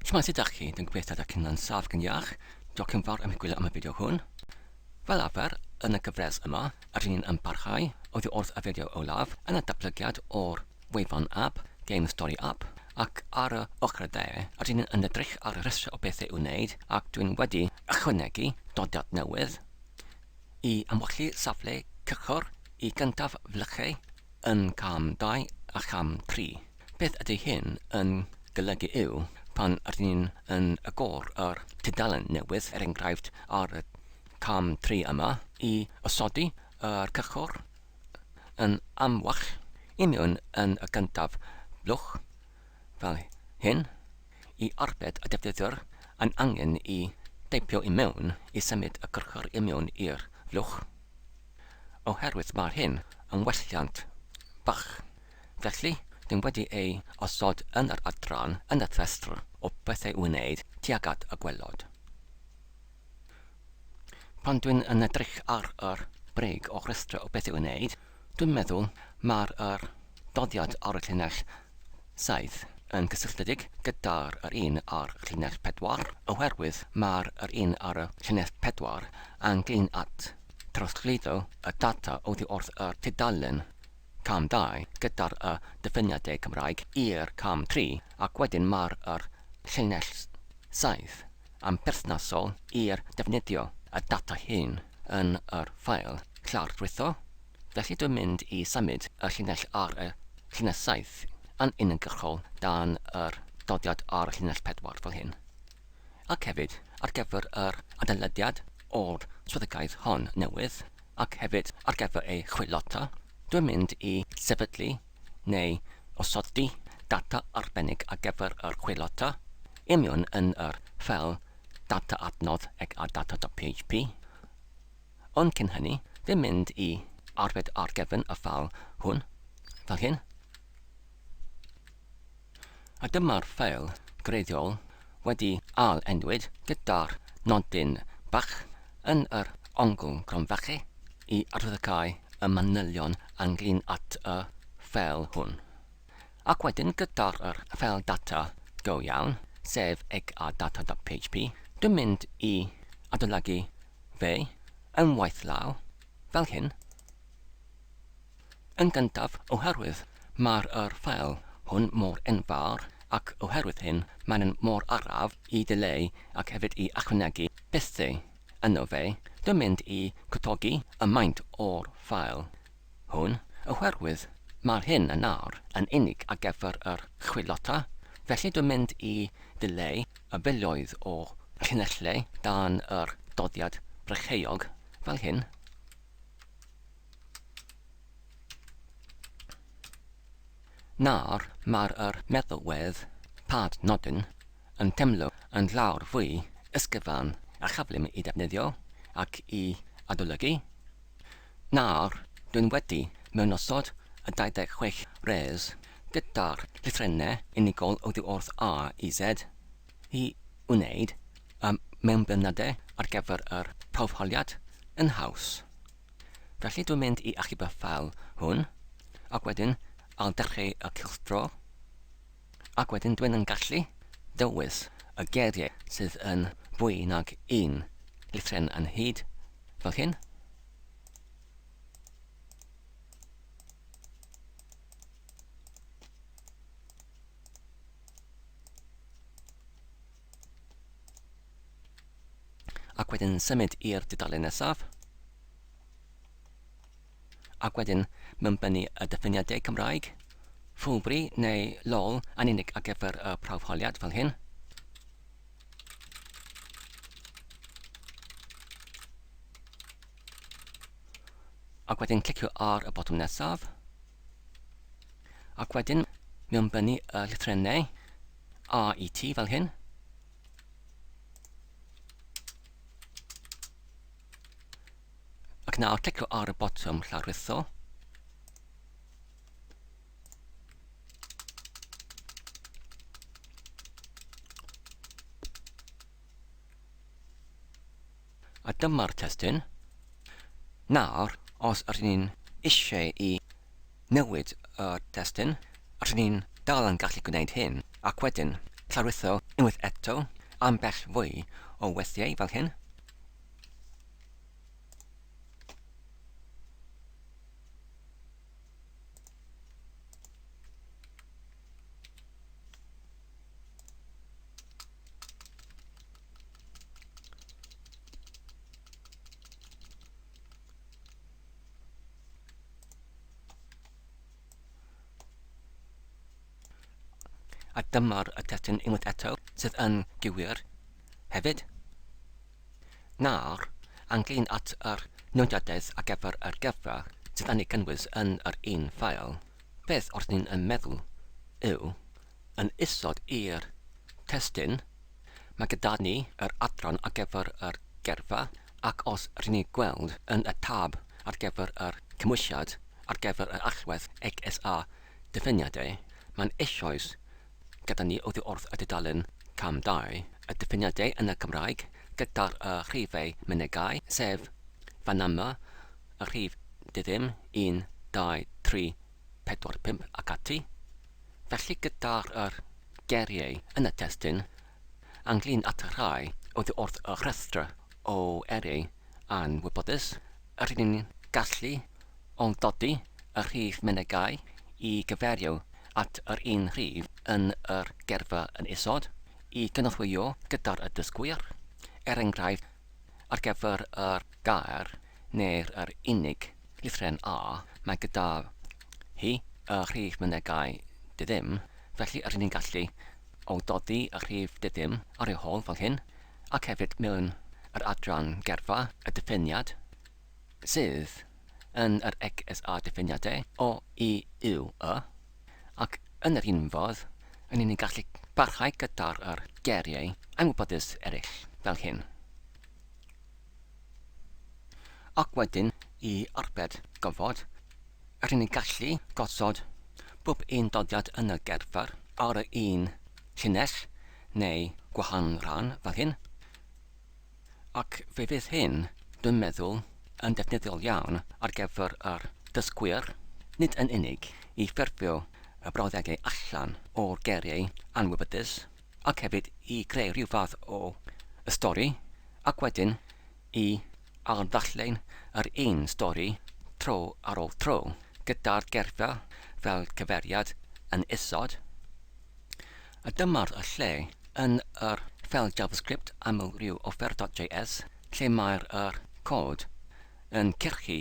Shwmae sut dach chi? Dwi'n gobeithio dach chi'n lân saff gan iach. Diolch yn fawr am i gwylio am y fideo hwn. Fel arfer, yn y gyfres yma, yr un yn parhau oddi wrth y fideo olaf yn y datblygiad o'r wefan app, Game Story App, ac ar y ochr y dde, yr un yn edrych ar y rhestr o bethau i'w wneud ac dwi'n wedi ychwanegu dodiad newydd i amwyllu safle cychwr i gyntaf flychau yn cam 2 a cham 3. Beth ydy hyn yn golygu yw, pan rydyn ni yn agor yr tudalen newydd, er enghraifft ar y cam tri yma, i osodi yr cychwr yn amwell i mewn yn y gyntaf, blwch fel hyn, i arbed y defnyddiwr yn angen i deipio i mewn i symud y cychwr i mewn i'r blwch, oherwydd mae hyn yn welliant bach. Felly, dw i wedi ei osod yn yr adran yn y rhestr o bethau i'w wneud tuag at y gwaelod. Pan dw i'n yn edrych ar yr brig o rhestr o bethau i'w wneud, dw i'n meddwl mae'r yr doddiad ar y llinell 7 yn gysylltiedig gyda'r yr un ar y llinell 4, oherwydd mae'r yr un ar y llinell 4 yn glin at drosglwyddo y data oddi wrth y tudalen Cam dau, gyda'r y dyfyniadau Cymraeg i'r cam tri, ac wedyn mae'r yr llinell saith, yn berthnasol i'r defnyddio y data hyn yn yr ffael llardrwytho, felly dwi'n mynd i symud y llinell ar y llinell saith yn uniongyrchol dan yr doddiad ar y llinell pedwar fel hyn. Ac hefyd, ar gyfer yr adolygiad o'r swyddogaeth hon newydd, ac hefyd ar gyfer ei chwilota, dwi'n mynd i sefydlu neu osodi data arbennig ar gyfer yr chwilota i mewn yn yr ffeil data adnodd eg a data.php. Ond cyn hynny, dwi'n mynd i arbed ar gefn y ffeil hwn, fel hyn. A dyma'r ffeil greiddiol wedi ail-enwyd gyda'r nodyn bach yn yr ongl gronfache i adlewyrchu y manylion ynglŷn at y ffeil hwn. Ac wedyn gyda'r yr ffeil data go iawn, sef egadata.php, dwi'n mynd i adolygu fe yn waith law, fel hyn. Yn gyntaf, oherwydd mae'r yr ffeil hwn mor enfawr ac oherwydd hyn mae'n un mor araf i ddileu ac hefyd i ychwanegu pethau yno fe, dwi'n mynd i gwtogi y maint o'r ffeil hwn oherwydd mae'r hyn yn nawr yn unig ar gyfer yr chwilota felly dwi'n mynd i ddileu y filoedd o llinellau dan yr doddiad brycheog fel hyn. Nawr mae'r yr meddalwedd, pad nodyn, yn teimlo yn llawer fwy ysgyfan a chyflym i ddefnyddio ac i adolygu. Nawr dwi'n wedi mewnosod y 26 res gyda'r llythrennau unigol oddiwrth A i Z. i wneud y mewnblyniadau ar gyfer yr hawfoliad yn haws. Felly dwi'n mynd i achub y ffeil hwn, ac wedyn I'll dechrau y cylchdro, ac wedyn dwi'n yn gallu dewis y geiriau sydd yn fwy nag un llythryn yn hyd, fel hyn. Ac wedyn symud i'r dudalen nesaf. Ac wedyn mynbynnu y diffiniadau Cymraeg, Fwlbri neu LOL yn unig ar gyfer y prawf holiad, fel hyn. Ac wedyn clicio ar y botwm nesaf. Ac wedyn, mewn byny y llythrennau A i T fel hyn. Ac nawr clicio ar y botwm llawrlwytho. A dyma'r testun. Nawr, os ydyn ni'n eisiau i newid y testun, ydyn ni'n dal yn gallu gwneud hyn, ac wedyn llawrytho unwaith eto ambell fwy o weithiau fel hyn. a dyma'r y testyn unwaith eto sydd yn gywir hefyd. Nawr, anglyn at yr nodiadaeth a gyfer yr gyfa sydd yn ei gynnwys yn yr un ffael. Beth wrth ni'n yn meddwl yw, yn isod i'r testun, mae gyda ni yr adran ar gyfer yr gyrfa ac os ry'n ni'n gweld yn y tab ar gyfer yr cymwysiad ar gyfer yr allwedd XS a diffiniadau, mae'n eisoes gyda ni oddi wrth y dudalen Cam 2, y diffiniadau yn y Gymraeg gyda'r y rhifau mynegai, sef fan yma, y rhif di-ddim, 1, 2, 3, 4, 5 ac ati. Felly gyda'r yr geiriau yn y testun, ynglŷn at y rhai oddi wrth y rhestr o eiriau anwybodus, rŷn ni'n gallu ailddodi y rhif menygai i gyfeirio at yr un rhif yn yr geirfa yn isod, i gynorthwyo gyda'r y dysgwyr, er enghraifft, ar gyfer y gair neu'r yr unig lythren A mae gyda hi y rhif mynegai diddim, felly rydyn ni'n gallu awdodi y rhif diddim ar ei hol fel hyn, ac hefyd mewn yr adran gerfa, y diffiniad, sydd yn yr EGSA diffiniade, o, i, u, y, ac yn yr un fodd, rydyn ni'n gallu parhau gyda'r yr geiriau anwybodus eraill fel hyn. Ac wedyn i arbed gofod, er inni gallu gosod bob un doddiad yn y gerfer ar yr un llinell neu gwahanol ran fel hyn. Ac fe fydd hyn, dwi'n meddwl, yn defnyddiol iawn ar gyfer yr dysgwyr, nid yn unig i ffurfio y brawddegau allan o'r geiriau anwybydus, ac hefyd i greu rhyw fath o stori, ac wedyn i ailddarllen yr un stori tro ar ôl tro, gyda'r gerffa fel cyfeiriad yn isod. A dyma'r lle yn yr ffeil JavaScript aml rhyw offer.js lle mae'r yr cod yn cyrchu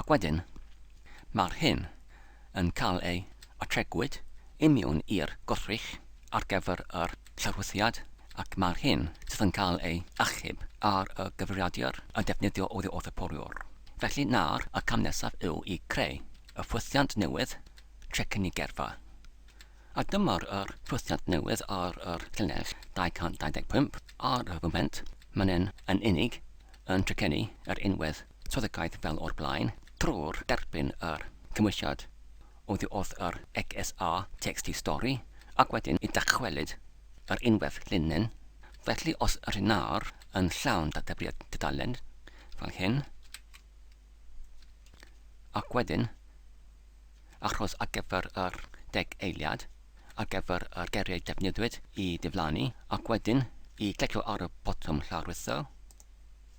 Ac wedyn, mae'r hyn yn cael ei atregwyd i mewn i'r gwrthrych ar gyfer yr llorwthiad ac mae'r hyn sydd yn cael ei achub ar y gyfrifiadur yn defnyddio oddi wrth y poriwr. Felly nawr y cam nesaf yw i creu y ffwythiant newydd trwy cynnig gerfa. A dyma'r yr ffwythiant newydd ar yr llinell 225 ar y foment, mae'n yn unig yn trecenu yr unwedd. Swyddogaeth fel o'r blaen drwy'r derbyn yr cymwysiad oddi wrth yr XSA text i stori ac wedyn y dychwelyd yr unwaith linen, felly os yr hyn ar yn llawn databriod dudalen fel hyn ac wedyn achos ar gyfer yr deg eiliad ar gyfer yr geiriau defnyddiwyd i diflannu ac wedyn i glicio ar y botwm lawrlwytho.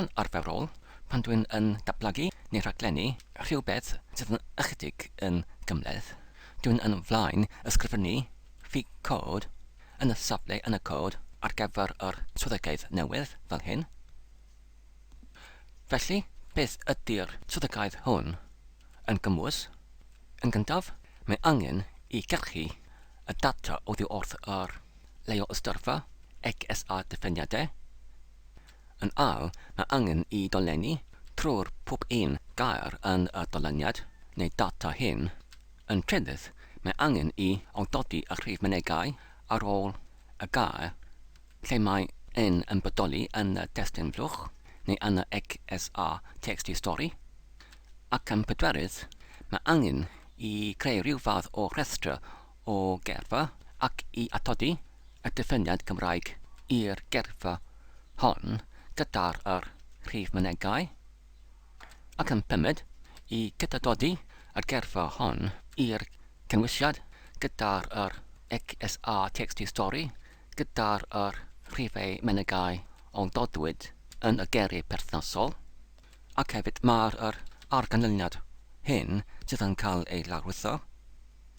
Yn arferol, pan dw i'n yn datblygu neu rhaglennu rhywbeth sydd yn ychydig yn gymhleth, dw i'n yn flaen ysgrifennu fi cod yn y safle yn y cod ar gyfer yr swyddogaeth newydd, fel hyn. Felly, beth ydy'r swyddogaeth hwn? Yn gymwys, yn gyntaf, mae angen i gyrchu y data oddi wrth yr Leo Ystorfa, XSA Diffeniadau. Yn all, mae angen i dolenni trwy'r pob un gair yn y dolyniad neu data hyn. Yn trydydd, mae angen i awdodi y rhif mynegai ar ôl y gair lle mae yn yn bodoli yn y testun flwch neu yn y XSA Txt Stori. Ac yn pedwerydd, mae angen i greu rhyw fath o rhestr o gerfo ac i atodi y dyfyniad Gymraeg i'r gerfo hon gyda'r yr rhif mynegai, ac yn pummed, i gydadodi y gerfo hon i'r cynwysiad gyda'r yr XSA Txt Stori gyda'r yr rhifau mynegai o dodwyd yn y geri perthnasol, ac hefyd mae'r yr arganlyniad hyn sydd yn cael ei lawrlwytho.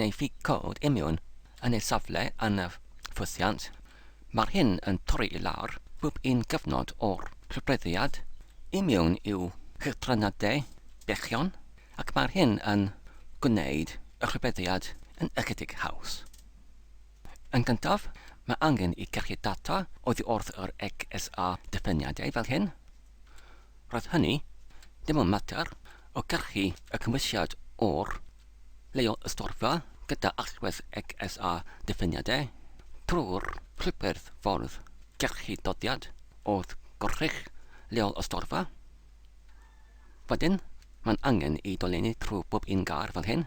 neu fig coed imiwn yn ei safle yn y ffwythiant, mae'r hyn yn torri i lawr bob un cyfnod o'r llofruddiad imiwn i'w chythrynadau bychion ac mae'r hyn yn gwneud y rhybuddiad yn ychydig haws. Yn gyntaf, mae angen i gachu data oddi wrth yr XSA diffyniadau fel hyn. Roedd hynny dim ond mater o gachu y cymwysiad o'r leol ystorfa gyda allwedd XSA diffyniadau trwy'r rhywbeth ffordd gachu dodiad oedd gwrthrych leol ystorfa. Wedyn, mae'n angen i dolenni trwy bob un gar fel hyn.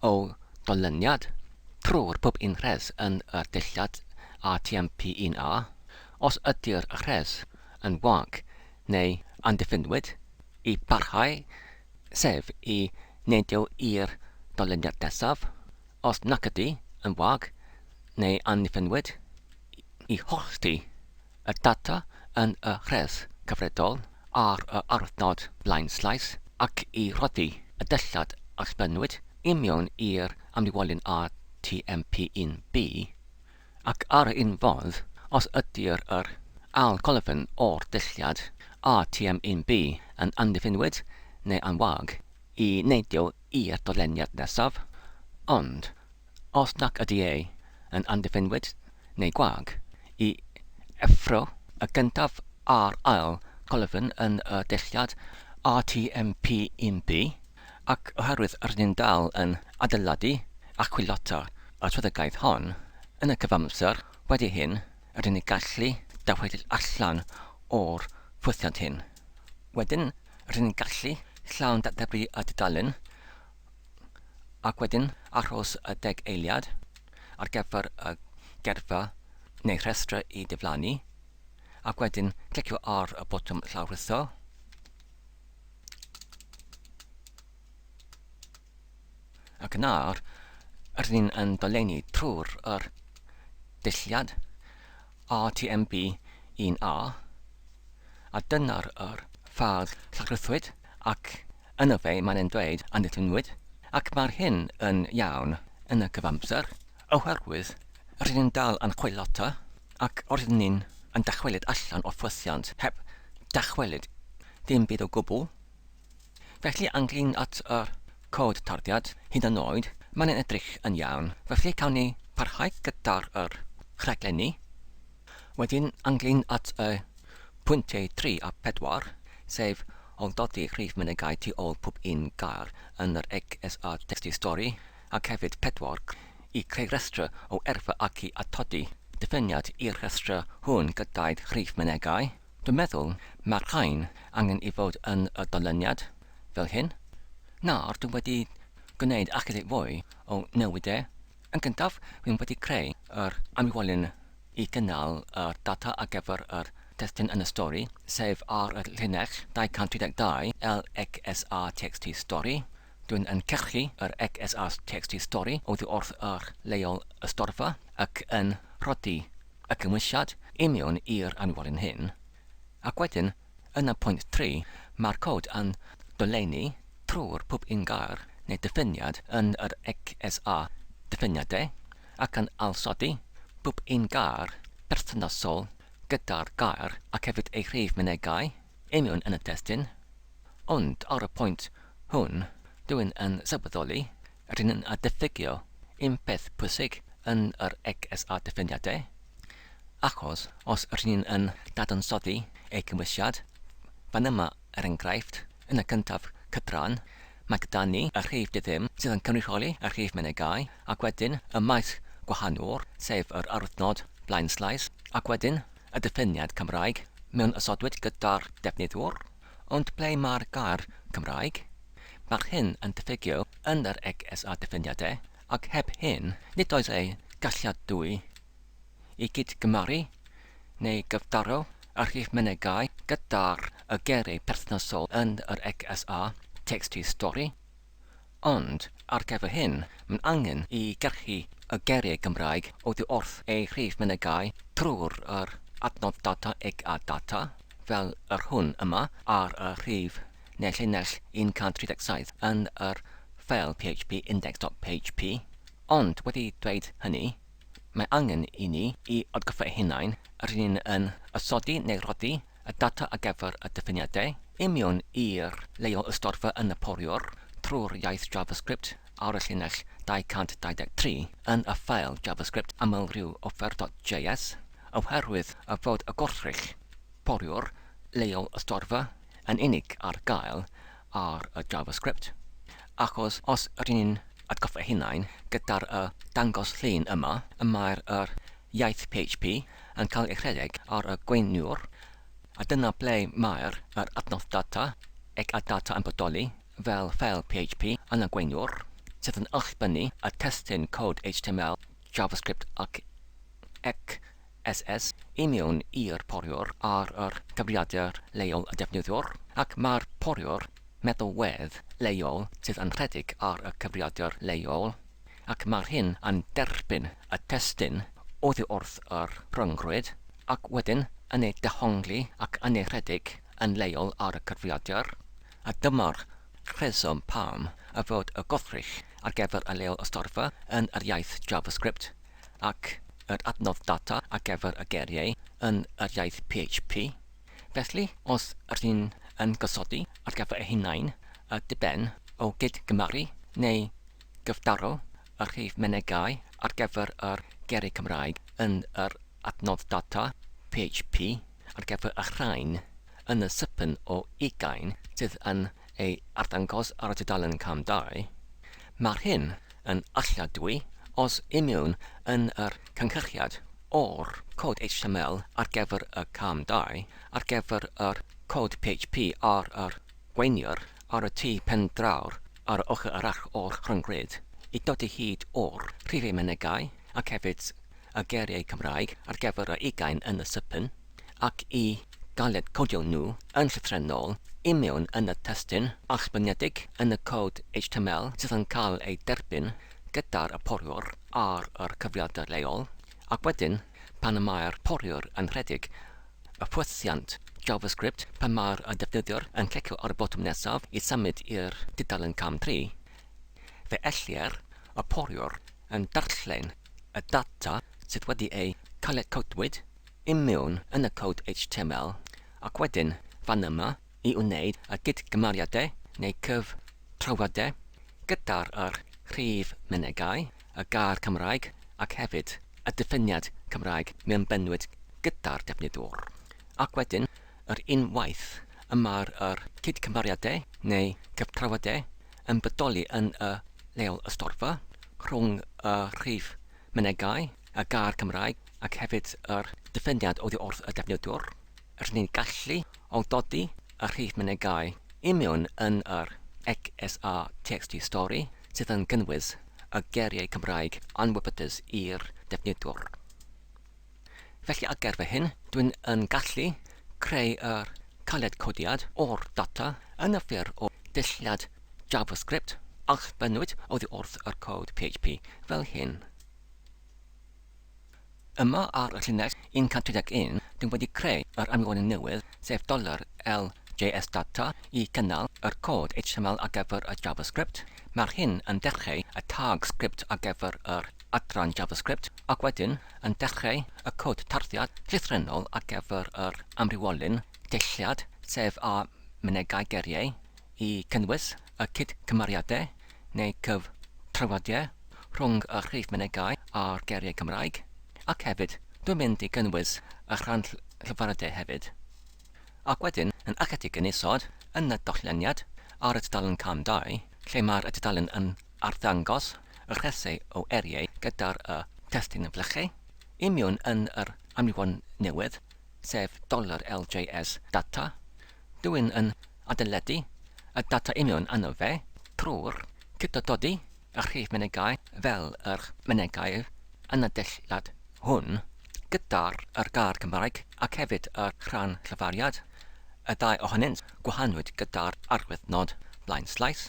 o ganlyniad, trwy'r pub un rhes yn y dillad ATMP 1A, os ydy'r rhes yn wag neu andiffinwyd, i barhau, sef i neidio i'r ganlyniad nesaf, os nac ydy yn wag neu andiffinwyd, i hollti y data yn y rhes gyfredol ar y adnod blaenllaw ac i rhoddi y dillad a sblennwyd i mewn i'r amlinellu'n RTMP 1B, ac ar yr un fodd, os ydy'r yr ail golofn o'r dillad RTM 1B yn amddiffynwyd neu yn wag, i neidio i'r dolenniad nesaf, ond, os nac ydy e yn amddiffynwyd neu gwag, i effro y gyntaf a'r ail golofn yn y dulliad RTMP 1B, ac oherwydd rydyn ni'n dal yn adeiladu a chwilota y swyddogaeth hon, yn y cyfamser wedi hyn, rydyn ni'n gallu dychwelyd allan o'r ffwythiant hyn. Wedyn, rydyn ni'n gallu llawn-ddatblygu y dudalen, ac wedyn achos y deg eiliad ar gyfer y gerffa neu rhestrau i diflannu, ac wedyn clicio ar y botwm llawrlwytho. Ac yna, rydyn ni yn dolenni trwy'r yr dulliad RTMP 1A, a dyna'r yr ffael llawrlwythwyd. Ac yno fe mae'n e'n dweud a nithinnwyd, ac mae'r hyn yn iawn yn y cyfamser, oherwydd rydyn ni'n dal yn chwilota, ac rydyn ni yn dychwelyd allan o'r ffwythiant heb dychwelyd dim byd o gwbl. Felly, ynglŷn at yr cod tarddiad, hyd yn oed, mae'n e'n edrych yn iawn, felly cawn ni parhau gyda'r yr rhaglenni. Wedyn, ynglŷn at y pwyntiau tri a phedwar, sef ailgodi rhif mynegai tu ôl pob un gair yn yr EGS a thestun stori, ac hefyd pedwar, i creu rhestr o erfa ac i atodi diffiniad i'r rhestr hwn gyda'i rhif mynegai, dwi'n meddwl mae'r rhain angen i fod yn y dolyniad, fel hyn. Nawr, dwi wedi gwneud ychydig fwy o newid e. Yn gyntaf, rwy'n wedi creu yr anwyfolyn i gynnal yr data ar gyfer yr testun yn y stori, sef ar y llinell 232 lxrtxt stori. Dwy'n yn cyrchu yr xrtxt stori oddi wrth yr leol ystorfa ac yn rhoddi y cymwysiad i mewn i'r anwyfolyn hyn, ac wedyn Yn y pwynt tri, mae'r Cod yn dolennu trwy'r pob un gair neu ddiffiniad yn yr ECSA diffiniadau ac yn ailsodi pob un gair perthnasol gyda'r gair ac hefyd ei rhif mynegai union yn y testun, ond ar y pwynt hwn, dw i'n yn sylweddoli Rydyn yn a diffygio un peth pwysig yn yr EGSA diffiniadau, achos os rydyn yn dadansoddi ei gymwysiad, fan yma, er enghraifft, yn y cyntaf cydraan, mae gyda ni y rhif di-ddim sydd yn cynrychioli y rhif menygai, ac wedyn y maes gwahanol, sef yr arwyddnod blaen-slais, ac wedyn y diffiniad Cymraeg mewn ysodwyd gyda'r defnyddwr. Ond ble mae'r gair Cymraeg? Mae'r hyn yn diffygio yn yr EGS a diffiniad e, ac heb hyn, nid oes ei galliadwy i gyd-gymaru neu gyfdaro y rhif mynegai gyda'r y geiriau perthnasol yn yr EGS a, text-to-story, Ond, ar gyfer hyn, mae'n angen i gyrchu y geiriau Gymraeg oddi wrth eu rhif mynegai drwy'r yr adnodd data eg a data, fel yr hwn yma, ar y rhif neu llinell 137 yn yr ffeil php index.php. Ond, wedi dweud hynny, mae angen i ni i atgoffa'i hunain rŷn ni'n ysodi neu roddi y data ar gyfer y diffiniadau i mewn i'r leol ystorfa yn y poriwr trwy'r iaith JavaScript ar y llinell 223 yn y ffael JavaScript amlrhyw offer.js oherwydd y fod y gwrthrych poriwr leol ystorfa yn unig ar gael ar y JavaScript achos os rŷn ni'n atgoffa hunain gyda'r y dangos llun yma y mae'r yr iaith PHP yn cael ei rhedeg ar y gweiniwr, a dyna ble mae'r yr adnodd data, ac a data yn bodoli fel ffeil PHP yn y gweiniwr, sydd yn allbynnu y testun cod HTML, JavaScript ac XSS i mewn i'r poriwr ar yr cyfrifiadur leol y defnyddiwr, ac mae'r poriwr meddalwedd leol sydd yn rhedeg ar y cyfrifiadur leol. ac mae'r hyn yn derbyn y testun oddi wrth yr rhyngrwyd, ac wedyn yn ei dehongli ac yn ei rhedeg yn leol ar y cyfrifiadur, a dyma'r rheswm pam y fod y gwrthrych ar gyfer y leol ystorfa yn yr iaith JavaScript ac yr adnodd data ar gyfer y geiriau yn yr iaith PHP. Felly, os rŷn yn gosodi ar gyfer eu hunain, a diben o gyd-gymaru, neu Gwrthdaro y rhif mynegai ar gyfer yr Gerrig Cymraeg yn yr adnodd data PHP ar gyfer y rhain yn y sipyn o ugain sydd yn ei arddangos ar y tudalen cam dau. Mae'r hyn yn alladwy os ymiwn yn yr cynhyrchiad o'r cod html ar gyfer y cam dau ar gyfer yr cod PHP ar yr gweiniwr ar y tu pen draw ar y ochr arall o'r rhyngrwyd, i dodi hyd o'r rhifau mynegai ac hefyd y geiriau Cymraeg ar gyfer y ugain yn y sypyn, ac i galed codio nhw yn llythrennol i mewn yn y testun allbyniedig yn y cod html sydd yn cael ei derbyn gyda'r y poriwr ar yr cyfrifiadur leol, ac wedyn, pan y mae'r poriwr yn rhedeg y ffortiant JavaScript pan mae'r defnyddiwr yn clicio ar y botwm nesaf i symud i'r dudalen cam tri. Fe ellir y poriwr yn darllen y data sydd wedi eu caletcodwyd i mewn yn y cod HTML ac wedyn fan yma i wneud y gydgymariadau neu cyftrawiadau gyda'r rhif mynegai y gair Cymraeg ac hefyd y diffiniad Cymraeg mewn bennwyd gyda'r defnyddwr, ac wedyn yr un waith y mae'r yr cydcymhariadau neu gyftrawiadau yn bodoli yn y leol ystorfa rhwng y rhif mynegai, y gair Cymraeg ac hefyd yr diffiniad oddi wrth y defnyddwr. Rŷn ni'n gallu awdodi y rhif mynegai i mewn yn yr XSRTXT stori sydd yn cynnwys y geiriau Cymraeg anwybydus i'r defnyddwr. Felly ar ger fy hun, dwi'n yn gallu creu yr caled codiad o'r data yn y ffurf o ddulliad JavaScript a'ch bennwyd oddi wrth yr cod PHP fel hyn. Ewrop. Yma ar y llinell, un cant tri deg un, dw i wedi creu yr anfonyn newydd, sef dollar LJSData, i gynnal yr cod HTML ar gyfer y JavaScript. Mae'r hyn yn dechreu y tag sgript ar gyfer yr adran JavaScript, ac wedyn yn dechreu y cod tarddiad llythrennol ar gyfer yr amrywiolyn deilliad, sef a mynegai geiriau. i gynnwys y cyd-cymariadau neu gyftrafodiau rhwng y rhif mynegai a'r geiriau Cymraeg, ac hefyd, dwi'n mynd i gynnwys y rhan llyfrydau hefyd. Ac wedyn, yn ychydig yn isod yn y dolleniad, ar y tudalen cam dau, lle mae'r tudalen yn arddangos y rhesau o eiriau gyda'r y testun flychu, i miwn yn yr amrywon newydd, sef dollar LJS data, Dwyn yn adeiladu y data union arno fe trwy'r cytododi a rhif mynegai fel yr mynegai yn y dillad hwn gyda'r yr gair Cymraeg ac hefyd y rhan llyfariad, y ddau ohonynt gwahanwyd gyda'r arwyddnod blaen slaes,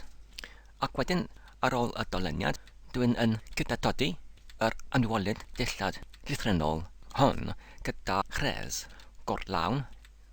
ac wedyn ar ôl y doleniad dwyn yn cytododi yr anwylyd dillad llythrennol hwn gyda rhes gorlawn,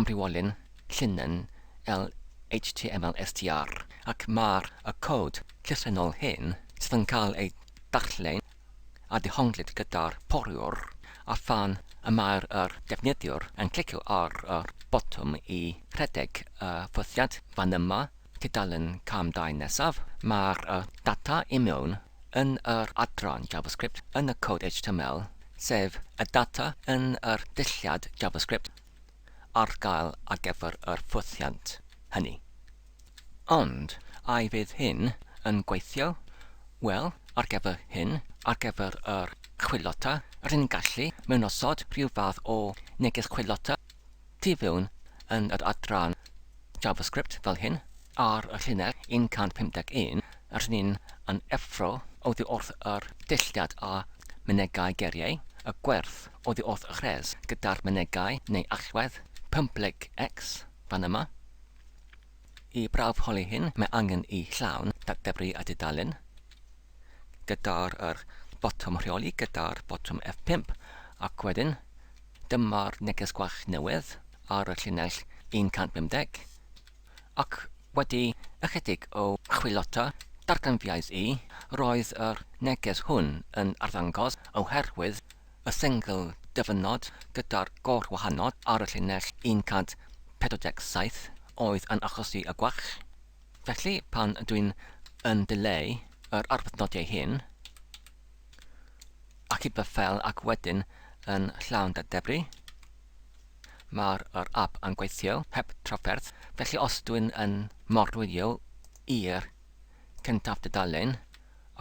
amrywiolyn llinyn LHTMLSTR ac mae'r y cod llythrennol hyn sydd yn cael ei darllen a dehonglir gyda'r poriwr a phan y mae'r yr defnyddiwr yn clicio ar y botwm i rhedeg y ffwythiant fan yma, tudalen cam dau nesaf, mae'r y data i mewn yn yr adran JavaScript yn y cod HTML, sef y data yn yr dulliad JavaScript ar gael ar gyfer yr ffwythiant hynny. Ond, a fydd hyn yn gweithio? Wel, ar gyfer hyn, ar gyfer yr chwilota, rydyn gallu mewnosod rhyw fath o neges chwilota tu fewn yn yr adran JavaScript fel hyn, Ar y llinell 151, rŷn ni yn effro oddi wrth yr dulliad a mynegai geriau y gwerth oddi wrth y chrês gyda'r mynegai neu allwedd pympleg X fan yma. I brawf holi hyn mae angen i llawn datgybru a dudalen gyda'r yr botwm rheoli gyda'r botwm F5 ac wedyn dyma'r neges gwach newydd ar y llinell 150. ac wedi ychydig o chwilota darganfyddaidd i, roedd yr neges hwn yn arddangos oherwydd y sengl dyfynod gyda'r gorwahanod ar y llinell 147 oedd yn achosi y gwall. Felly, pan dwi'n yn dileu yr arwyddnodiau hyn, ac i byfel ac wedyn yn llawn dadebru, Mae'r yr app yn gweithio heb trafferth, felly os dwi'n yn morwyo i'r cyntaf dudalen,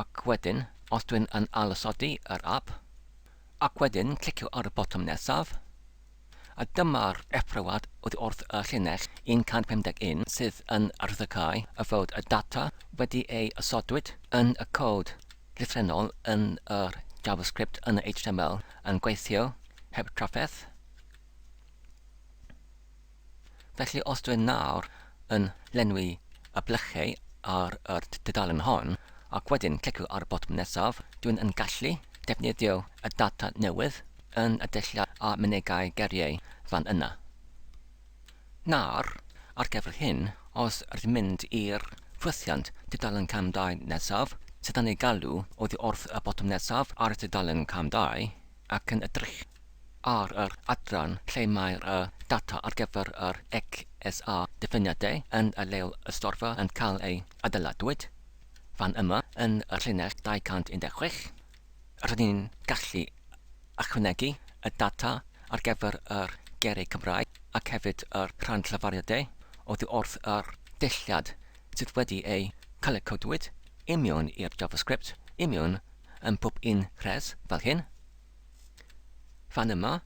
ac wedyn os dwi'n yn ailosodi yr app, ac wedyn clicio ar y botwm nesaf, a dyma'r effroad oddi wrth y llinell 151 sydd yn arwyddocáu y fod y data wedi ei osodwyd yn y cod llythrennol yn yr JavaScript yn y HTML yn gweithio heb trafferth. Felly os dwi nawr yn llenwi y blychau ar yr dudalen hon, ac wedyn clicio ar y botwm nesaf, dwi'n yn gallu defnyddio y data newydd yn y dulliau a mynegai geiriau fan yna. Nawr, ar gyfer hyn, os rydyn mynd i'r ffwythiant dudalen cam dau nesaf, sydd yn ei galw oddi wrth y botwm nesaf ar y dudalen cam dau, ac yn edrych ar yr adran lle mae'r data ar gyfer yr XSA diffiniadau yn y Leol Ystorfa yn cael ei adeiladwyd, fan yma, yn y llinell 216, rydyn ni'n gallu ychwanegu y data ar gyfer yr geiriau Cymraeg ac hefyd yr rhan llafariadau oddi wrth yr dulliad sydd wedi eu cael y codwyd i mewn i'r JavaScript i mewn yn pob un rhes fel hyn. Fan yma,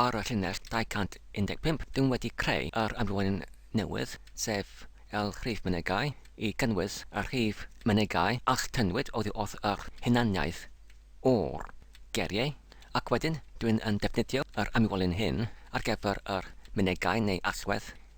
ar y llinell 215, dwi'n wedi creu yr amrywyn newydd, sef el rhif mynegai, i gynnwys y rhif mynegai a chytunwyd oddi wrth yr hunaniaeth o'r geriau, ac wedyn dwi'n yn defnyddio yr amrywyn hyn ar gyfer yr mynegai neu allwedd.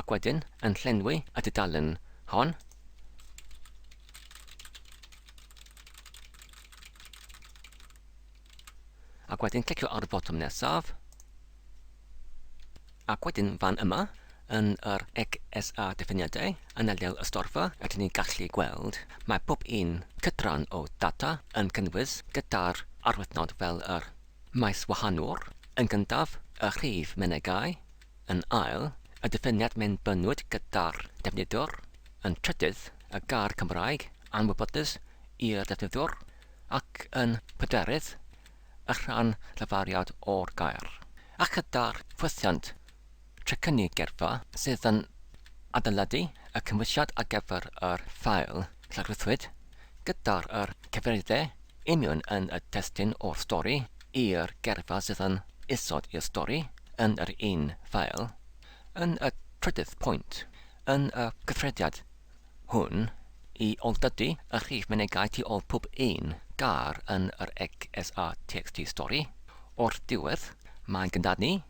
Ac wedyn yn llenwi y dudalen hon. Ac wedyn clicio ar y botwm nesaf. Ac wedyn fan yma, yn yr XSA diffiniadau, yn ardal y storfa, rydyn ni'n gallu gweld mae pob un cydran o data yn cynnwys gyda'r arwythnod fel yr Maes wahanol, yn gyntaf, y rhif mynegai, yn ail, y diffiniad mewnbynwyd gyda'r defnyddwr, yn trydydd, y gair Cymraeg anwybodus i'r defnyddwr, ac yn pedwerydd, y rhan lafariad o'r gair. A chyda'r ffwythiant Trecynnu geirfa sydd yn adeiladu y cymwysiad ar gyfer yr ffael llawrythwyd gyda'r yr cyfeiriadau union yn y testun o'r stori i'r geirfa sydd yn isod i'r stori yn yr un ffael. Yn y trydydd pwynt, yn y cyffrediad hwn, i ol-dydu y rhif mynegai tu ol pob un gair yn yr XSA txt stori, o'r diwedd, mae'n gynddadnu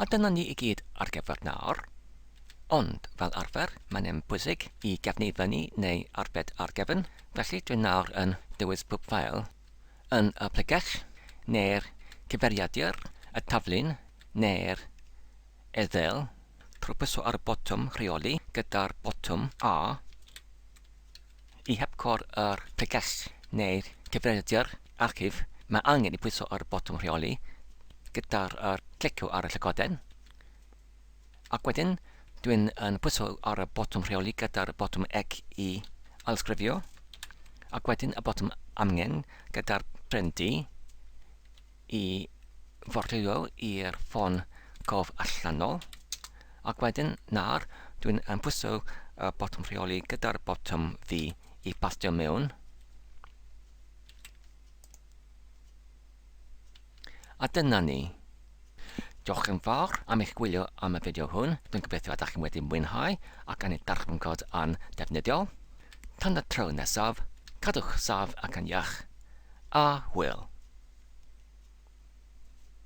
A dyna ni i gyd ar gyfer nawr. Ond, fel arfer, mae'n un pwysig i gefnu i fyny neu arbed ar gefn, felly dwi nawr yn dewis pob ffeil yn y pregeth, neu'r cyfeiriadur, y taflun, neu'r ethel, trwy pwyso ar y botwm 'Rheoli' gyda'r botwm A. I hepgor yr pregeth neu'r cyfrifiadur archif, mae angen i bwyso ar y botwm rheoli gyda'r clicio ar y llygoden, ac wedyn dwi'n yn pwyso ar y botwm rheoli gyda'r botwm ec i ailsgrifio, ac wedyn y botwm amgen gyda'r pren du. i fordwyo i'r ffôn cof allanol, ac wedyn, nawr, dwi'n pwyso y botwm rheoli gyda'r botwm fi i bastio mewn, a dyna ni. Diolch yn fawr am eich gwylio am y fideo hwn, dwi'n gobeithio ydych chi'n wedi mwynhau ac yn ei darganfod yn ddefnyddiol. Tan y tro nesaf, cadwch saf ac yn iach, a hwyl!